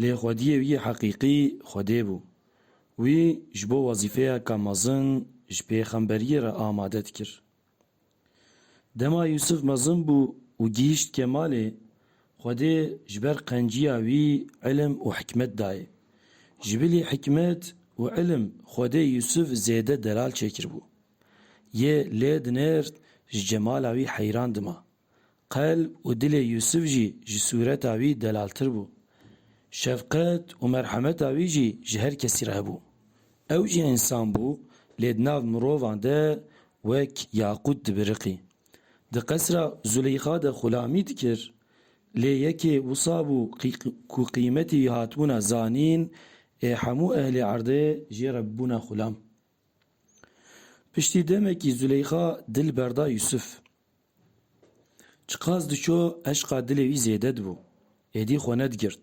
Lê xwediyê wî heqîqî Xwedê bû. Wî ji bo wezîfeyeke mezin ji pêxemberiyê re amade dikir. Dema Yûsif mezin bû û gihîşt kemalê, Xwedê ji ber qenciya wî îlim û hikmet dayê. Ji bilî hikmet û îlim Xwedê Yûsif zêde delal çêkiribû. Yê lê dinêrt ji cemala wî heyran dima. Qelb û dilê Yûsif jî ji sûreta wî delaltir bû. Şefqet û merhemeta wî jî ji her kesî re hebû. Ew jî însan bû, lê di nav mirovan de wek yaqût dibiriqî. Di qesra Zuleyxa de xulamî dikir, lê yekê wisa bû ku qîmetê wî hatibûna zanîn ê hemû ehlê erdê jê re bûbûna xulam. Piştî demekî Zuleyxa dil berda Yûsif. Çiqas diçû eşqa dilê wî zêde dibû. Êdî xwe nedigirt.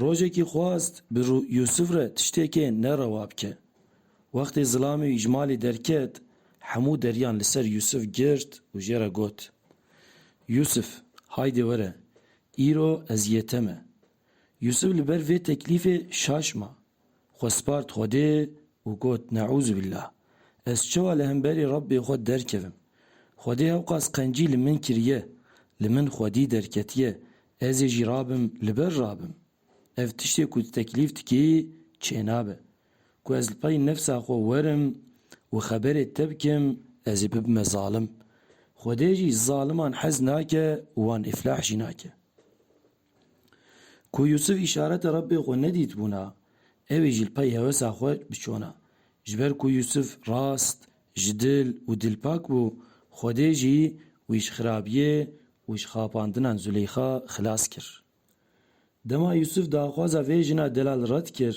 Rojekî xwast bi Yûsif re tiştêkê ne rewa bike. Wextê zilamê wî ji malê derket hemû deriyan li ser Yûsif girt û jê re got, Yûsif, haydê were, îro ez yê te me. Yûsif li ber vê teklîfê şaş ma. Xwe spart Xwedê û got, Neûzubîllah! Ez çawa li hemberî Rebbê xwe derkevim? Xwedê hewqas qencî li min kiriye, li min xwedî derketiye, ez ê jî rabim, li ber rabim. Ev tiştê ku tu teklîf dikî çênabe. Ku ez li pey nefsa xwe werim û xeberê te bikim, ez ê bibime zalim. Xwedê jî zaliman hez nake û wan îflah jî nake. Ku Yûsif îşareta Rebbê xwe nedîtbûna, ew ê ji pey hewesa xwe biçona. Ji ber ku Yûsif rast, ji dil û dilpak bû, Xwedê jî wî ji xirabiyê û ji xapandinan Zuleyxa xilas kir. Dema Yûsif daxwaza vê jina delal red kir,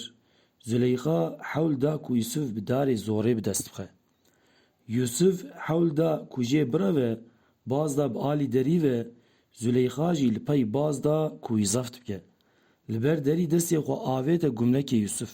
Zuleyxa hewl da ku Yûsif bi darê zorê bi dest bixe. Yûsûf hewl da ku jê bireve, baz da bi alî derî ve, Zûleyxa jî li pey baz da ku wî zeft bike. Li ber derî destê xwe avête gumnekê Yûsûf.